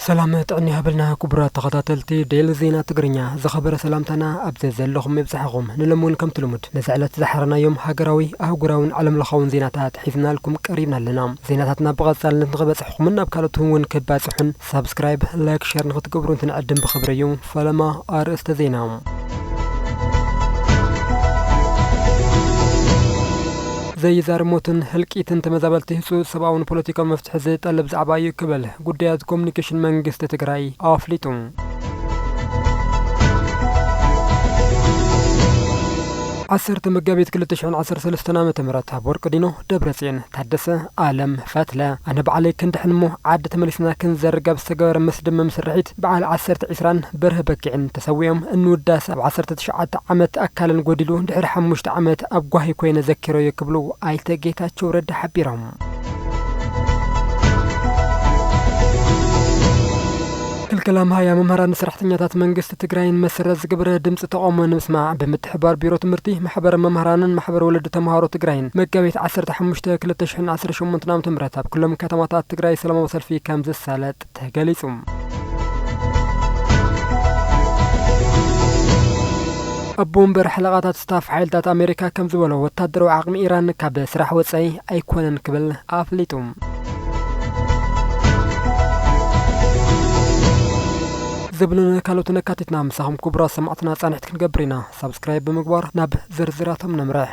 ሰላም ጥዕና ይሃበልና ክቡራት ተኸታተልቲ ዴሊ ዜና ትግርኛ ዝኸበረ ሰላምታና ኣብ ዘለኹም ይብጽሓኹም ንሎም እውን ከምቲ ልሙድ ነዚ ዕለት ዝሓረናዮም ሃገራዊ ኣህጉራውን ዓለም ለኻውን ዜናታት ሒዝናልኩም ቀሪብና ኣለና ዜናታትና ብቐጻልነት ንኽበጽሕኹምን ናብ ካልኦት እውን ከባጽሑን ሳብስክራይብ ላይክ ሸር ንክትገብሩ እንትንዕድም ብክብሪ እዩ ፈለማ ኣርእስተ ዜና ዘይዛር ሞትን ህልቂትን ተመዛበልቲ ህፁፅ ሰብኣውን ፖለቲካዊ መፍትሒ ዝጠልብ ዛዕባ እዩ ክብል ጉዳያት ኮሚኒኬሽን መንግስቲ ትግራይ ኣፍሊጡ። ዓሰርተ መጋቢት 213 ዓ ም ኣብ ወርቂ ዲኖ ደብረፅዮን ታደሰ ኣለም ፈትለ ኣነ ባዕለይ ክንድሕን እሞ ዓዲ ተመሊስና ክንዘርግ ኣብ ዝተገበረ መስደመም ስርሒት በዓል ዓሰርተ ዒስራን በርሀ በኪዕን ተሰዊኦም እንውዳሰ ኣብ ዓሰርተ ትሽዓተ ዓመት ኣካለን ጎዲሉ ድሕሪ ሓሙሽተ ዓመት ኣብ ጓሂ ኮይነ ዘኪረዮ ክብሉ ኣይተ ጌታቸው ረዳ ሓቢሮም። ክልከላ መሃያ መምህራን ንሰራሕተኛታት መንግስቲ ትግራይን መሰረት ዝገበረ ድምፂ ተቓውሞ ንምስማዕ ብምትሕብባር ቢሮ ትምህርቲ፣ ማሕበረ መምህራንን ማሕበር ወለዲ ተምሃሮ ትግራይን መጋቢት ዓሰርተ ሓሙሽተ ክልተ ሽሕን ዓሰርተ ሸሞንተን ዓመተ ምህረት ኣብ ኩሎም ከተማታት ትግራይ ሰላማዊ ሰልፊ ከምዝሳለጥ ተገሊፁ። ኣቦ ወንበር ሓለቓታት ስታፍ ሓይልታት ኣሜሪካ ከም ዝበሎ ወታደራዊ ዓቕሚ ኢራን ካብ ስራሕ ወፃኢ ኣይኮነን ክብል ኣፍሊጡ። ዝብሉንን ካልኦትን ኣካቲትና ምሳኹም ክቡራት ሰማዕትና ፃንሒት ክንገብር ኢና። ሳብስክራይብ ብምግባር ናብ ዝርዝራቶም ነምርሕ።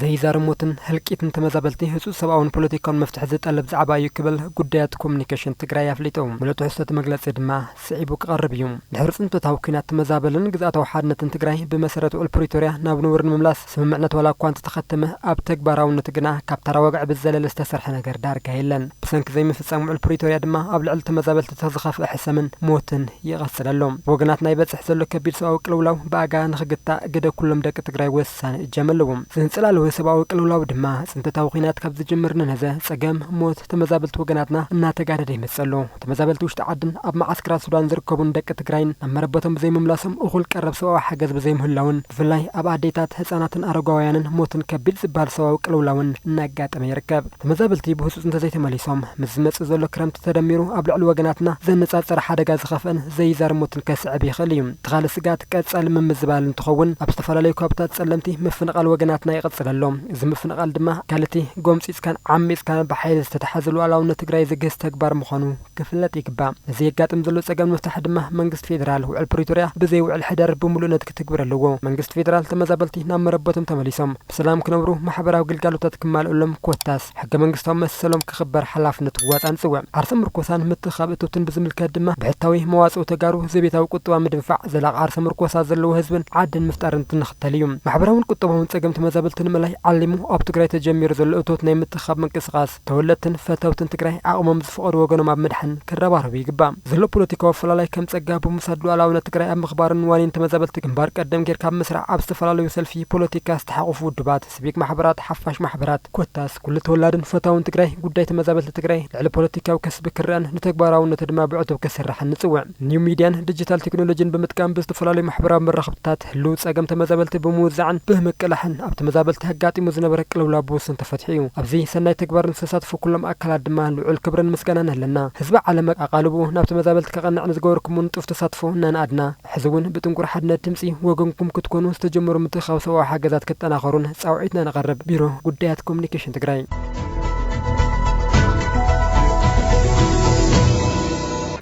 ዘይዛረብ ሞትን ህልቂትን ተመዛበልቲ ህፁፅ ሰብኣውን ፖለቲካውን መፍትሒ ዝጠልብ ዛዕባ እዩ ክብል ጉዳያት ኮሙኒኬሽን ትግራይ ኣፍሊጡ። ሙሉእ ትሕዝቶ እቲ መግለፂ ድማ ስዒቡ ክቐርብ እዩ። ድሕሪ ፅንተታዊ ኲናት ተመዛበልን ግዝኣታዊ ሓድነትን ትግራይ ብመሰረት ውዕል ፕሪቶርያ ናብ ንቡር ንምምላስ፣ ስምምዕነት ዋላ እኳ እንተተኸተመ ኣብ ተግባራውነቱ ግና ካብ ተራ ወግዒ ብዝዘለለ ዝተሰርሐ ነገር ዳርጋ የለን። ብሰንኪ ዘይምፍጻም ውዕል ፕሪቶርያ ድማ ኣብ ልዕሊ ተመዛበልቲ ተኽ ዝኸፍኣ ሕሰምን ሞትን ይቐጽል ኣሎ። ብወገናትና ይበጽሕ ዘሎ ከቢድ ሰብኣዊ ቅልውላው ብኣጋ ንኽግታእ ግደ ኩሎም ደቂ ትግራይ ወሳኒ እጃም ኣለዎ። ዘንጸላልወ ሰብኣዊ ቅልውላው ድማ ጽንተታዊ ኹናት ካብ ዝጅምር ንነዘ ጸገም ሞት ተመዛበልቲ ወገናትና እናተጋደደ ይመጽእ ኣሎ። ተመዛበልቲ ውሽጢ ዓድን ኣብ መዓስከራት ሱዳን ዝርከቡን ደቂ ትግራይን ናብ መረበቶም ብዘይምምላሶም እኹል ቀረብ ሰብኣዊ ሓገዝ ብዘይምህላዉን ብፍላይ ኣብ ኣዴታት፣ ህፃናትን ኣረጋውያንን ሞትን ከቢድ ዝበሃል ሰብኣዊ ቅልውላውን እናጋጠመ ይርከብ። ተመዛበልቲ ብህፁፅ እንተዘይተመሊሶም ምስ ዝመፅእ ዘሎ ክረምቲ ተደሚሩ ኣብ ልዕሊ ወገናትና ዘነፃፀረ ሓደጋ ዝኸፍአን ዘይዛር ሞትን ከስዕብ ይኽእል እዩ። እቲ ኻሊእ ስግኣት ቀፃሊ ምምዝባል እንትኸውን ኣብ ዝተፈላለዩ ከባብታት ፀለምቲ ምፍንቓል ወገናትና ይቕፅል ኣሎ። እዚ ምፍንቓል ድማ ኣካል እቲ ጎምፂፅካን ዓሚፅካን ብሓይሊ ዝተትሓዘ ሉኣላውነት ትግራይ ዘግህስ ተግባር ምዃኑ ክፍለጥ ይግባእ። ነዚ የጋጥም ዘሎ ፀገም ንምፍታሕ ድማ መንግስቲ ፌዴራል ውዕል ፕሪቶሪያ ብዘይ ውዕል ሕደር ብሙሉእነት ክትግብር ኣለዎ። መንግስቲ ፌዴራል ተመዛበልቲ ናብ መረበቶም ተመሊሶም ብሰላም ክነብሩ፣ ማሕበራዊ ግልጋሎታት ክማለኡሎም ኮታስ ሕገ መንግስታዊ መሰሎም ክኽበር ሓላፍነቱ ክዋፃእን ፅውዕ። ዓርሰ ምርኮሳን ምትእኽኻብ እትውትን ብዝምልከት ድማ ብሕታዊ መዋፅኦ ተጋሩ ዘቤታዊ ቁጠባ ምድንፋዕ፣ ዘላቒ ዓርሰ ምርኮሳ ዘለዎ ህዝብን ዓድን ምፍጣርን ትንኽ። ተልዩ ማሕበራውን ቁጠባውን ፀገም ተመዛበልቲ ንምእላይ ዓሊሙ ኣብ ትግራይ ተጀሚሩ ዘሎ እቶት ናይ ምትእኽኻብ ምንቅስቓስ ተወለድትን ፈተውትን ትግራይ ዓቕሞም ዝፈቐዶ ወገኖም ኣብ ምድሓን ክረባረቡ ይግባእ። ዘሎ ፖለቲካዊ ኣፈላላይ ከም ፀጋ ብምውሳድ ሉኣላውነት ትግራይ ኣብ ምኽባርን ዋኒን ተመዛበልቲ ግንባር ቀደም ገይርካ ኣብ ምስራዕ ኣብ ዝተፈላለዩ ሰልፊ ፖለቲካ ዝተሓቖፉ ውድባት ስቪክ ማሕበራት፣ ሓፋሽ ማሕበራት፣ ኮታስ ኩሉ ተወላድን ፈታውን ትግራይ ጉዳይ ተመዛበልቲ ትግራይ ልዕሊ ፖለቲካዊ ከስቢ ክረኣን ንተግባራውነቱ ድማ ብዕቱብ ክስራሕን ንፅውዕ። ኒው ሚድያን ድጅታል ቴክኖሎጂን ብምጥቃም ብዝተፈላለዩ ማሕበራዊ መራኽብቲታት ህልው ፀገም ተመዛበልቲ ብምውዛዕን ብህምቅላሕን ኣብ ተመዛበልቲ ኣጋጢሙ ዝነበረ ቅልውላው ብውሱን ተፈቲሑ እዩ። ኣብዚ ሰናይ ተግባር ንዝተሳተፉ ኩሎም ኣካላት ድማ ልዑል ክብርን ምስጋናን ኣለና። ህዝቢ ዓለም ኣቓልብኡ ናብ ተመዛበልቲ ከቐንዕ ንዝገበርኩምዎ ንጡፍ ተሳትፎ እናነኣድና፣ ሕዚ እውን ብጥንኩር ሓድነት ድምፂ ወገንኩም ክትኮኑ ዝተጀመሩ ምትእኽኻብ ሰብኣዊ ሓገዛት ክጠናኸሩን ፃውዒትና ነቐርብ፣ ቢሮ ጉዳያት ኮሙኒኬሽን ትግራይ።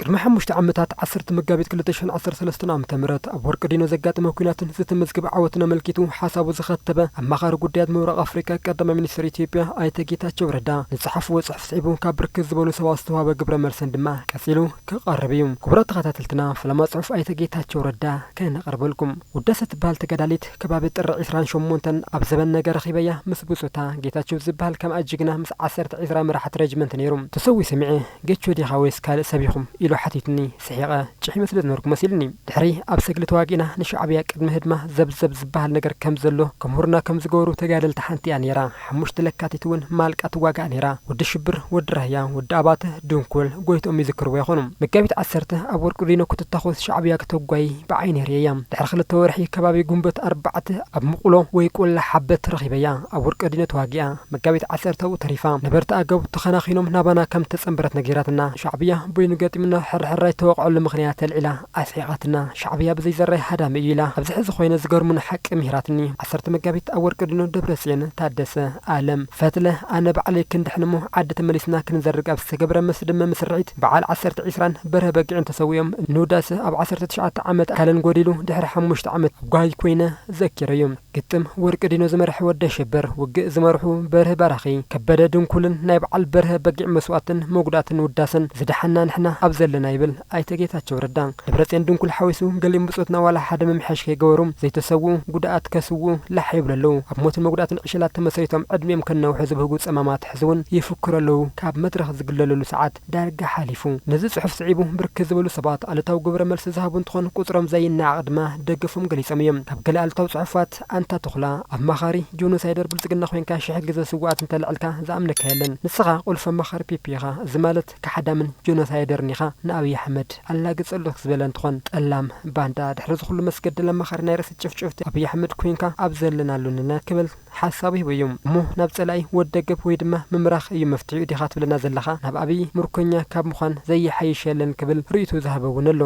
ቅድሚ ሓሙሽተ ዓመታት ዓሰርተ መጋቢት ክልተ ሽሕን ዓሰርተ ሰለስተን ዓመተ ምህረት ኣብ ወርቂ ዲኖ ዘጋጠመ ኲናትን ዝተመዝገበ ዓወትን ኣመልኪቱ ሓሳቡ ዘኸተበ ኣማኻሪ ጉዳያት ምብራቕ ኣፍሪካ ቀዳማይ ሚኒስትር ኢትዮጵያ ኣይተ ጌታቸው ረዳ ንፀሓፍዎ ፅሑፍ ስዒቡ ካብ ብርክት ዝበሉ ሰባት ዝተውሃበ ግብረ መልሰን ድማ ቀፂሉ ክቀርብ እዩ ክቡራት ተከታተልትና ፈለማ ጽሑፍ ኣይተ ጌታቸው ረዳ ከነቅርበልኩም ውዳሰ ትበሃል ተጋዳሊት ከባቢ ጥሪ ዕስራን ሸሞንተን ኣብ ዘበን ነገ ረኪበያ ምስ ብጹታ ጌታቸው ዝብሃል ከምኣ ጅግና ምስ ዓሰርተ ዕስራ መራሕቲ ረጅመንት ነይሩ ተሰዊኡ ሰሚዐ ጌቾ ዲካ ወይስ ካልእ ሰብ ኢኩም ኢሉ ሓቲቱኒ ስሒቀ ጭሒመ ስለ ዝነበርኩ መሲልኒ ድሕሪ ኣብ ሰግሊ ተዋጊእና ንሻዕብያ ቅድሚ ህድማ ዘብ ዘብ ዝብሃል ነገር ከም ዘሎ ክምህሩና ከም ዝገበሩ ተጋደልቲ ሓንቲ'ያ ነይራ ሓሙሽተ ለካቲት እውን ማልቃ ትዋጋእ ነይራ። ወዲ ሽብር፣ ወዲ ራህያ፣ ወዲ ኣባተ፣ ድንኩል፣ ጎይትኦም ይዝክርዎ ይኾኑ። መጋቢት ዓሰርተ ኣብ ወርቂ ሊኖ ክትታኾስ ሻዕብያ ክተጓይ ብዓይነይ ርእየያ። ድሕሪ ክልተ ወርሒ ከባቢ ጉንበት ኣርባዕተ ኣብ ምቑሎ ወይ ቆላ ሓበት ረኺበያ። ኣብ ወርቂ ሊኖ ተዋጊኣ መጋቢት ዓሰርተ ኣብኡ ተሪፋ። ነበርቲ ኣገው ተኸናኺኖም ናባና ከም እተጸንበረት ነጊራትና። ሻዕብያ በይኑ ገጢሙና ሕርሕራይ እተወቕዐሉ ምኽንያት ኣልዒላ። ኣስሒቓትና ሻዕብያ ብዘይዘራይ ሃዳሚ እዩ ኢላ ኣብዚ ሕዚ ኮይነ ዝገርሙኒ ሓቂ ሚህራትኒ ዓሰርተ መጋቢት ኣብ ወርቂ ድኖ ደብረጽዮን ታደሰ ኣለም ፈትለ ኣነ ባዕለይ ክንድሕን እሞ ዓዲ ተመሊስና ክንዘርግ ኣብ ዝተገብረ መስደመሚ ስርዒት በዓል ዓሰርተ ዒስራን በርሀ በጊዕን ተሰዊኦም ንውዳሰ ኣብ ዓሰርተ ትሽዓተ ዓመት ኣካለን ጎዲሉ ድሕሪ ሓሙሽተ ዓመት ጓይ ኮይነ ዘኪረዩ ግጥም ወርቂ ዲኖ ዝመርሐ ወዲ ኣሸብር ውግእ ዝመርሑ በርሀ ባራኺ ከበደ ድንኩልን ናይ በዓል በርሀ በጊዕ መስዋእትን መጉዳእትን ውዳሰን ዝደሓና ንሕና ኣብ ዘለና ይብል ኣይተ ጌታቸው ረዳ፣ ደብረፅዮን ድንኩል ሓዊሱ ገሊኦም ብፆትና ዋላ ሓደ ምምሕያሽ ከይገበሩ ዘይተሰውኡ፣ ጉድኣት ከስውኡ ላሕ ይብሉ ኣለው። ኣብ ሞትን መጉዳእትን ዕሸላት ተመስሪቶም ዕድሚኦም ከናውሑ ዝብህጉ ፀማማት ሕዚ እውን ይፍክሩ ኣለው። ካብ መድረኽ ዝግለለሉ ሰዓት ዳርጋ ሓሊፉ። ነዚ ፅሑፍ ስዒቡ ብርክት ዝበሉ ሰባት ኣሉታዊ ግብረ መልሲ ዝሃቡ እንትኾን ቁፅሮም ዘይነዓቕ ድማ ደገፎም ገሊፆም እዮም። ካብ ገለ ኣሉታዊ ፅሑፋት፣ ኣንታ ተኹላ፣ ኣማኻሪ ጆኖሳይደር ብልፅግና ኮይንካ ሽሕ ግዘ ስውኣት እንተልዕልካ ዝኣምነካ የለን። ንስኻ ቁልፊ ኣማኻሪ ፒፒ ኢኻ። እዚ ማለት። ካሓዳምን ጆኖሳይደርን ኢኻ ንኣብይ ኣሕመድ ኣላግጸ ኣለኽ ዝበለ እንትኾን ጠላም ባንዳ ድሕሪ ዝኹሉ መስገደል ኣማኻሪ ናይ ርእሲ ጭፍጭፍቲ ኣብይ ኣሕመድ ኮይንካ ኣብ ዘለናሉ ንነ ክብል ሓሳቡ ሂቡ እዩ እሞ ናብ ጸላኢ ወድ ደገብ ወይ ድማ ምምራኽ እዩ መፍትሒኡ ዲኻ ትብለና ዘለኻ ናብ ኣብይ ምርኮኛ ካብ ምዃን ዘይሓይሽ የለን ክብል ርእይትኡ ዝሃበ እውን ኣሎ።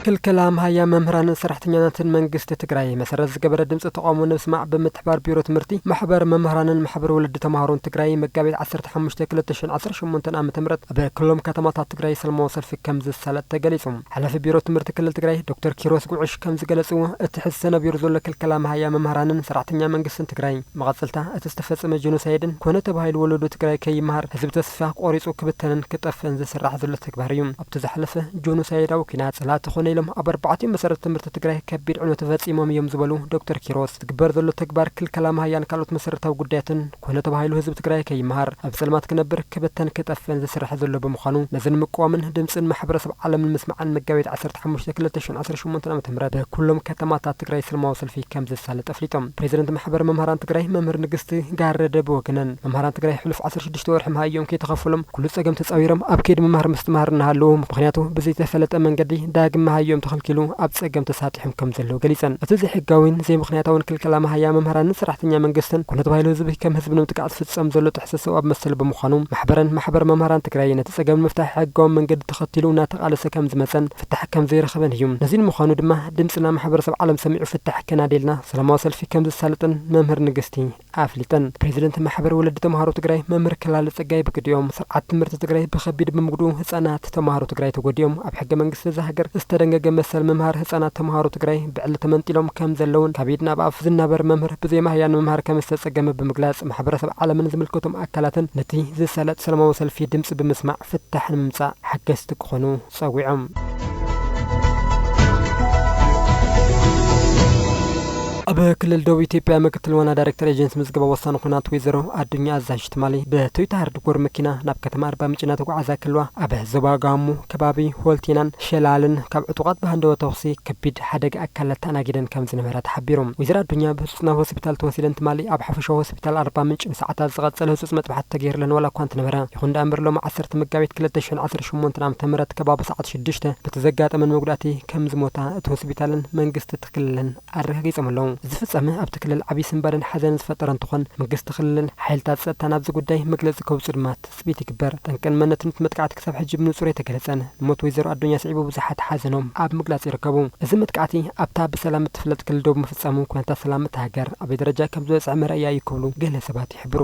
ክልከላ ኣምሃያ መምህራንን ሰራሕተኛናትን መንግስቲ ትግራይ መሰረት ዝገበረ ድምፂ ተቓውሞ ንምስማዕ ብምትሕባር ቢሮ ትምህርቲ፣ ማሕበር መምህራንን ማሕበር ወለዲ ተምሃሮን ትግራይ መጋቢት ዓሰርተ ሓሙሽተ ክልተ ሽሕን ዓሰርተ ሸሞንተን ዓመተ ምህረት ኣብ ክሎም ከተማታት ትግራይ ሰልማዊ ሰልፊ ከምዝሳለጥ ተገሊፁ። ሓላፊ ቢሮ ትምህርቲ ክልል ትግራይ ዶክተር ኪሮስ ጉዕሽ ከምዝገለፅዎ እቲ ሕዚ ተነቢሩ ዘሎ ክልከላ ኣምሃያ መምህራንን ሰራሕተኛ መንግስትን ትግራይ መቐፅልታ እቲ ዝተፈፀመ ጀኖሳይድን ኮነ ተባሂሉ ወለዶ ትግራይ ከይመሃር ህዝቢ ተስፋ ቆሪፁ ክብተንን ክጠፍእን ዝስራሕ ዘሎ ተግባር እዩ። እቲ ዝሓለፈ ጆኖሳይዳዊ ኲናት ፀላእቲ ኮነ ኢሎም ኣብ ኣርባዕቲኡ መሰረተ ትምህርቲ ትግራይ ከቢድ ዕንወት ፈፂሞም እዮም ዝበሉ ዶክተር ኪሮስ፣ ዝግበር ዘሎ ተግባር ክልከላ ማሃያን ካልኦት መሰረታዊ ጉዳያትን ኮነ ተባሂሉ ህዝቢ ትግራይ ከይመሃር፣ ኣብ ፀልማት ክነብር፣ ክብተን ክጠፍእን ዝስራሕ ዘሎ ብምዃኑ ነዚ ንምቅዋምን ድምፅን ማሕበረሰብ ዓለም ንምስማዕን መጋቢት ዓሰርተ ሓሙሽተ ክልተ ሽሕን ዓሰርተ ሸሞንተን ዓመተ ምህረት ብኩሎም ከተማታት ትግራይ ሰልማዊ ሰልፊ ከምዝሳለጥ ኣፍሊጦም። ፕሬዚደንት ማሕበር መምህራን ትግራይ መምህር ንግስቲ ጋረደ ብወገነን መምህራን ትግራይ ሕሉፍ ዓሰርተ ሽዱሽተ ውሽጢ ወርሒ መሃዮም ከይተኸፈሎም ኩሉ ፀገም ተፃዊሮም ኣብ ከይዲ ምምሃር ምስትምሃር እናሃለዉ ምኽንያቱ ብዘይተፈለጠ መንገዲ ዳግም መሃዮም ተኸልኪሉ ኣብ ፀገም ተሳጢሖም ከምዘለዉ ገሊፀን። እቲ ዘይሕጋዊን ዘይምኽንያታዊን ክልከላ መሃያ መምህራንን ሰራሕተኛ መንግስትን ኩነ ተባሂሉ ህዝቢ ከም ህዝቢ ንምጥቃዕ ዝፍፀም ዘሎ ጥሕሰት ሰብኣዊ መሰል ብምዃኑ ማሕበረን ማሕበር መምህራን ትግራይ ነቲ ፀገም ንምፍታሕ ሕጋዊ መንገዲ ተኸቲሉ እናተቓለሰ ከምዝመፀን ፍታሕ ከምዘይረኸበን እዩ። ነዚ ንምዃኑ ድማ ድምፅና ማሕበረሰብ ዓለም ሰሚዑ ፍታሕ ከናድየልና ሰላማዊ ሰልፊ ከምዘሳልጥን መምህር ንግስቲ ኣፍሊጠን። ፕሬዚደንት ማሕበር ወለዲ ተምሃሮ ትግራይ መምህር ክላለ ፀጋይ ብግዲኦም፣ ስርዓት ትምህርቲ ትግራይ ብኸቢድ ብምጉድኡ ህፃናት ተምሃሮ ትግራይ ተጎዲኦም፣ ኣብ ሕገ መንግስቲ እዛ ሃገር ዝተደንገገ መሰል ምምሃር ህፃናት ተምሃሮ ትግራይ ብዕሊ ተመንጢሎም ከምዘለውን ካብ ኢድ ናብ ኣፍ ዝናበር መምህር ብዘይ ማህያ ንምምሃር ከምዝተፀገመ ብምግላፅ ማሕበረሰብ ዓለምን ዝምልከቶም ኣካላትን ነቲ ዝሳለጥ ሰላማዊ ሰልፊ ድምፂ ብምስማዕ ፍታሕ ንምምፃእ ሓገዝቲ ክኾኑ ጸዊዖም። ኣብ ክልል ደቡብ ኢትዮጵያ ምክትል ዋና ዳይሬክተር ኤጀንሲ ምዝገባ ወሳኒ ኹናት ወይዘሮ ኣዱኛ ኣዛዥ ትማሊ ብቶይታ ሃርድ ኮር መኪና ናብ ከተማ ኣርባ ምንጭ እናተጓዓዛ ከለዋ ኣብ ዞባ ጋሞ ከባቢ ሆልቴናን ሸላልን ካብ ዕጡቓት ብሃንደወ ተኹሲ ከቢድ ሓደጋ ኣካላት ተኣናጊደን ከም ዝነበራ ተሓቢሩ። ወይዘሮ ኣዱኛ ብህጹጽ ናብ ሆስፒታል ተወሲደን ትማሊ ኣብ ሓፈሻዊ ሆስፒታል ኣርባ ምንጭ ንሰዓታት ዝቐጸለ ህጹጽ መጥባሕቲ ተገይርለን ዋላ እኳ እንተነበረ፣ ይኹን ደኣምበር ሎሚ ዓሰርተ መጋቢት ክልተ ሽሕን ዓሰርተ ሸሞንተን ዓመተ ምህረት ከባቢ ሰዓት ሽዱሽተ በቲ ዘጋጠመን መጉዳእቲ ከም ዝሞታ እቲ ሆስፒታልን መንግስቲ እቲ ክልልን ኣረጋጊጾም ኣለዉ። እዚ ፍጻመ ኣብቲ ክልል ዓብዪ ስንባደን ሓዘንን ዝፈጠረ እንትኾን፣ መንግስቲ ክልልን ሓይልታት ጸጥታን ኣብዚ ጉዳይ መግለጺ ከውጽኡ ድማ ትፅቢት ይግበር። ጠንቅን መንነትን እቲ መጥቃዕቲ ክሳብ ሕጂ ብንፁር ኣይተገለፀን። ንሞት ወይዘሮ ኣዶኛ ስዒቡ ብዙሓት ሓዘኖም ኣብ ምግላፅ ይርከቡ። እዚ መጥቃዕቲ ኣብታ ብሰላም እትፍለጥ ክልል ደቡብ ምፍፃሙ ኩነታት ሰላም እታ ሃገር ኣበይ ደረጃ ከም ዝበፅሐ መርኣያ እዩ ክብሉ ገለ ሰባት ይሕብሩ።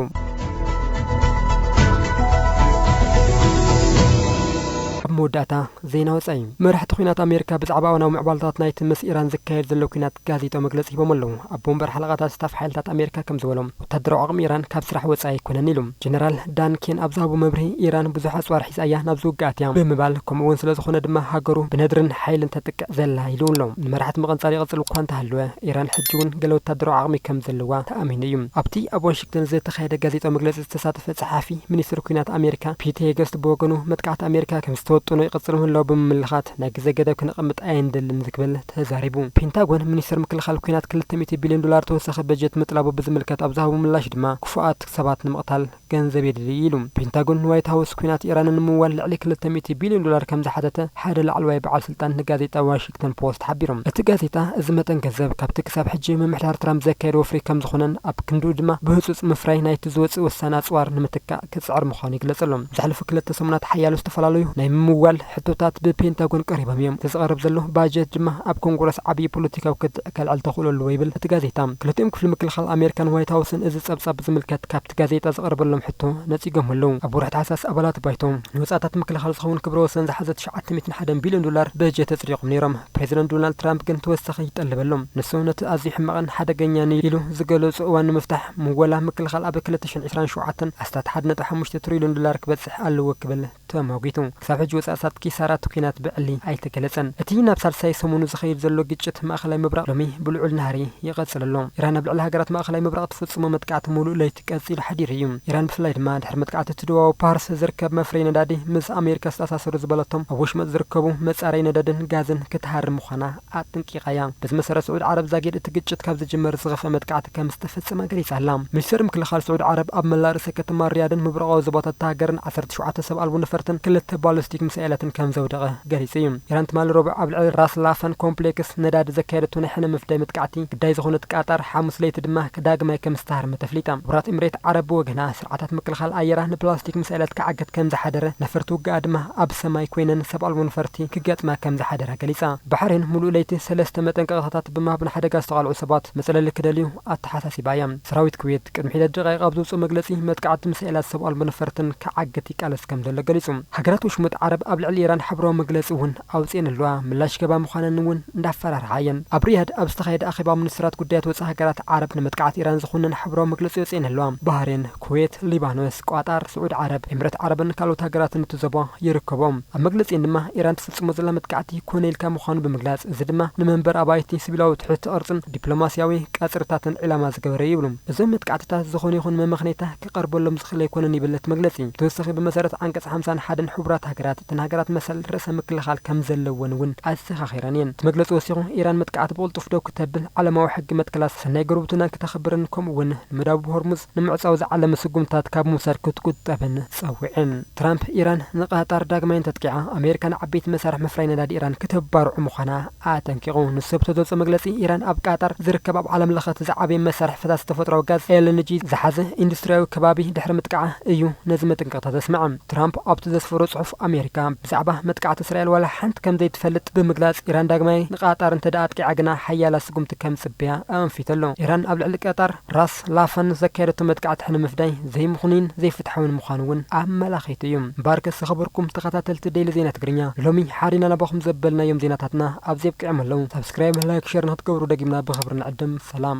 ኣብ መወዳእታ ዜና ወፃኢ መራሕቲ ኲናት ኣሜሪካ ብዛዕባ እዋናዊ ምዕባለታት ናይቲ ምስ ኢራን ዝካየድ ዘሎ ኲናት ጋዜጣዊ መግለፂ ሂቦም ኣለዉ። ኣቦ ወንበር ሓለቓታት ስታፍ ሓይልታት ኣሜሪካ ከምዝበሎ፣ ወታደራዊ ዓቕሚ ኢራን ካብ ስራሕ ወጻኢ ኣይኮነን ኢሉ። ጀነራል ዳን ኬን ኣብ ዝሃቦ መብርሂ፣ ኢራን ብዙሕ ኣጽዋር ሒዛ እያ ናብዚ ውግእ ኣትያ ብምባል፣ ከምኡ'ውን ስለዝኾነ ድማ ሃገሩ ብነድርን ሓይልን ተጥቅዕ ዘላ ኢሉ ኣሎ። ንመራሕቲ ምቕንጻል ይቕጽል እኳ እንተሃለወ፣ ኢራን ሕጂ'ውን ገለ ወታደራዊ ዓቕሚ ከም ዘለዋ ተኣሚኑ እዩ። ኣብቲ ኣብ ዋሽግተን ዝተኻየደ ጋዜጣዊ መግለጺ ዝተሳተፈ ጸሓፊ ሚኒስትሪ ኲናት ኣሜሪካ ፒት ሄገስት ብወገኑ፣ መጥቃዕቲ ኣሜሪካ ከም ዝተወጠኖ ይቕጽል ምህላዉ ብምምልኻት፣ ናይ ግዜ ገደብ ክነቐምጥ ኣይንደልን ዝክብል ተዛሪቡ። ፔንታጎን፣ ሚኒስቴር ምክልኻል ኲናት ክልተ ሚእቲ ቢልዮን ዶላር ተወሳኺ በጀት ምጥላቡ ብዝምልከት ኣብ ዝሃቦ ምላሽ ድማ ክፉኣት ሰባት ንምቕታል ገንዘብ የድሊ ኢሉ። ፔንታጎን ንዋይት ሃውስ ኲናት ኢራን ንምምዋል ልዕሊ ክልተ ሚእቲ ቢልዮን ዶላር ከምዝሓተተ ሓደ ላዕለዋይ በዓል ስልጣን ንጋዜጣ ዋሽግተን ፖስት ሓቢሩ። እቲ ጋዜጣ እዚ መጠን ገንዘብ ካብቲ ክሳብ ሕጂ ምምሕዳር ትራምፕ ዘካየዶ ወፍሪ ከምዝኾነን ኣብ ክንድኡ ድማ ብህፁፅ ምፍራይ ናይቲ ዝወፅእ ወሳኒ ኣፅዋር ንምትካእ ክጽዕር ምዃኑ ይግለጽ ኣሎ። ዝሓለፉ ክልተ ሰሙናት ሓያሎ ዝተፈላለዩ ናይ ምምዋል ሕቶታት ብፔንታጎን ቀሪቦም እዮም። እቲ ዝቐርብ ዘሎ ባጀት ድማ ኣብ ኮንግረስ ዓብዪ ፖለቲካዊ ክትዕ ከልዕል ተኽእሎ ኣለዎ ይብል እቲ ጋዜጣ። ክልቲኦም ክፍሊ ምክልኻል ኣሜሪካን ዋይት ሃውስን እዚ ጸብጻብ ብዝምልከት ካብቲ ጋዜጣ ዝቐረበሎም ሕቶ ነጺጎሞ ኣለዉ። ኣብ ወርሒ ታሕሳስ ኣባላት ባይቶ ንወጻኢታት ምክልኻል ዝኸውን ክብረ ወሰን ዝሓዘ ትሽዓተ ሚእትን ሓደን ቢልዮን ዶላር በጀት ኣጽዲቖም ነይሮም። ፕሬዝደንት ዶናልድ ትራምፕ ግን ተወሳኺ ይጠልብ ኣሎ። ንሱ ነቲ ኣዝዩ ሕማቕን ሓደገኛን እዩ ኢሉ ዝገለፆ እዋን ንምፍታሕ ምወላ ምክልኻል ኣብ ክልተ ሽሕን ዕስራን ሸውዓተን ኣስታት ሓደ ነጥቢ ሓሙሽተ ትሪልዮን ዶላር ክበፅሕ ኣለዎ ክብል ተሟጊቱ። ክሳብ ሕጂ ወፃእታት ኪሳራ እቲ ኲናት ብዕሊ ኣይተገለፀን። እቲ ናብ ሳልሳይ ሰሙኑ ዝኸይድ ዘሎ ግጭት ማእኸላይ ምብራቕ ሎሚ ብልዑል ናህሪ ይቐፅል ኣሎ። ኢራን ኣብ ልዕሊ ሃገራት ማእኸላይ ምብራቕ ትፍፅሞ መጥቃዕቲ ሙሉእ ለይቲ ቀጺሉ ሓዲሩ እዩ። ኢራን ብፍላይ ድማ ድሕሪ መጥቃዕቲ እቲ ደቡባዊ ፓርስ ዝርከብ መፍረዪ ነዳዲ ምስ ኣሜሪካ ዝተኣሳሰሩ ዝበለቶም ኣብ ወሽመጥ ዝርከቡ መጻረዪ ነዳድን ጋዝን ክትሃርም ምዃና ኣጥንቂቓ እያ። በዚ መሰረት ስዑድ ዓረብ ዛጊድ እቲ ግጭት ካብ ዝጅመር ዝኸፍኣ መጥቃዕቲ ከም ዝተፈጸመ ገሊጻ ኣላ። ሚኒስተር ምክልኻል ስዑድ ዓረብ ኣብ መላእ ርእሰ ከተማ ሪያድን ምብራቓዊ ዞባታት እታ ሃገርን ዓሰርተ ሸውዓተ ሰብ ኣልቦ ነፈርትን ክልተ ባሊስቲክ ሚሳኤላትን ከም ዘውደቐ ገሊጹ እዩ። ኢራን ትማሊ ረቡዕ ኣብ ልዕሊ ራስ ላፈን ኮምፕሌክስ ነዳዲ ዘካየደቶ ናይ ሕነ ምፍዳይ መጥቃዕቲ ግዳይ ዝኾነት ቃጣር ሓሙስ ለይቲ ድማ ዳግማይ ከም ዝተሃርመ ተፍሊጣ። ሕቡራት ኤምሬት ዓረብ ብወገና፣ ስርዓታት ምክልኻል ኣየራ ንፕላስቲክ ምስ ኣለት ክዓግት ከም ዝሓደረ፣ ነፈርቲ ውግኣ ድማ ኣብ ሰማይ ኮይነን ሰብ ኣልቦ ነፈርቲ ክገጥማ ከም ዝሓደራ ገሊጻ። ባሕሬን ምሉእ ለይቲ ሰለስተ መጠንቀቕታታት ብምሃብ ንሓደጋ ዝተቓልዑ ሰባት መጽለሊ ክደልዩ ኣተሓሳሲባ እያ። ሰራዊት ኩዌት ቅድሚ ሒደት ደቓይቕ ኣብ ዘውጽኦ መግለጺ፣ መጥቃዕቲ ሚሳኤላት ሰብ ኣልቦ ነፈርትን ክዓግት ይቃለስ ከም ዘሎ ገሊጹ። ሃገራት ወሽመጥ ዓረብ ኣብ ልዕሊ ኢራን ሓበራዊ መግለጺ እውን ኣውጺኤን'ለዋ፣ ምላሽ ክህባ ምዃነን'ውን እንዳፈራርሓ እየን። ኣብ ሪያድ ኣብ ዝተኻየደ ኣኼባ ሚኒስትራት ጉዳያት ወጻኢ ሃገራት ዓረብ ንመጥቃዕቲ ኢራን ዝኹንን ሓበራዊ መግለጺ ኣውጺኤን'ለዋ። ባህሬን፣ ኩዌት፣ ሊባኖስ፣ ቋጣር፣ ስዑዲ ዓረብ፣ ኤምሬት ዓረብን ካልኦት ሃገራትን እቲ ዞባ ይርከብኦም። ኣብ መግለጺኤን ድማ ኢራን ትፍጽሞ ዘላ መጥቃዕቲ ኮነ ኢልካ ምዃኑ ብምግላጽ እዚ ድማ ንመንበሪ ኣባይቲ፣ ሲቪላዊ ትሕቲ ቅርጽን ዲፕሎማስያዊ ቀጽርታትን ዒላማ ዝገበረ'ዩ ይብሉ። እዞም መጥቃዕትታት ዝኾነ ይኹን መመኽነይታ ክቐርበሎም ዝኽእል ኣይኮነን ይብል እቲ መግለጺ። ብተወሳኺ ብመሰረት ዓንቀጽ ሓምሳን ሓደን ሕቡራት ሃገራት፣ እተን ሃገራት መሰል ርእሰ ምክልኻል ከም ዘለወን እውን ኣዘኻኺረን እየን። እቲ መግለጺ ወሲኹ፣ ኢራን መጥቃዕቲ ብቕልጡፍ ደው ክተብል፣ ዓለማዊ ሕጊ መትከላት ሰናይ ጉርብትናን ክተኽብርን ከምኡ'ውን ንመዳውብ ሆርሙዝ ንምዕጻው ዝዓለመ ስጉምትታት ካብ ምውሳድ ክትቁጠብን ጸዊዑ። ትራምፕ፣ ኢራን ንቃጣር ዳግማይ እንተጥቂዓ፣ ኣሜሪካ ንዓበይቲ መሳርሒ ምፍራይ ነዳዲ ኢራን ክተባርዖ ምዃና ኣጠንቂቑ። ንሱ ኣብቲ ዘውጽኦ መግለጺ፣ ኢራን ኣብ ቃጣር ዝርከብ ኣብ ዓለም ለኸ እቲ ዝዓበየ መሳርሒ ፈሳሲ ተፈጥሮኣዊ ጋዝ፣ ኤልኤንጂ፣ ዝሓዘ ኢንዱስትርያዊ ከባቢ ድሕሪ ምጥቃዓ እዩ ነዚ መጠንቀቕታ ዘስምዐ። ትራምፕ ኣብቲ ዘስፈሮ ጽሑፍ፣ ኣሜሪካ ብዛዕባ መጥቃዕቲ እስራኤል ዋላ ሓንቲ ከም ዘይትፈልጥ ብምግላጽ፣ ኢራን ዳግማይ ንቃጣር እንተድኣ ኣጥቂዓ ግና ሓያላ ስጉምቲ ከም ዝጽበያ ኣኣንፊቱ ኣሎ። ኢራን ኣብ ልዕሊ ቀጣር፣ ራስ፣ ጽላፈን ዘካየደቶ መጥቃዕቲ ሕነ ምፍዳይ ዘይምኽኑይን ዘይፍትሓዊን ምዃኑ እውን ኣመላኺቱ እዩ። እምበኣርከ ዝኸበርኩም ተኸታተልቲ ደይሊ ዜና ትግርኛ ሎሚ ሓሪና ናባኹም ዘበልናዮም ዜናታትና ኣብዚ ኣብቂዖም ኣለዉ። ሳብስክራይብ ላይክ ሸር ንኽትገብሩ ደጊምና ብኽብሪ ንዕድም። ሰላም።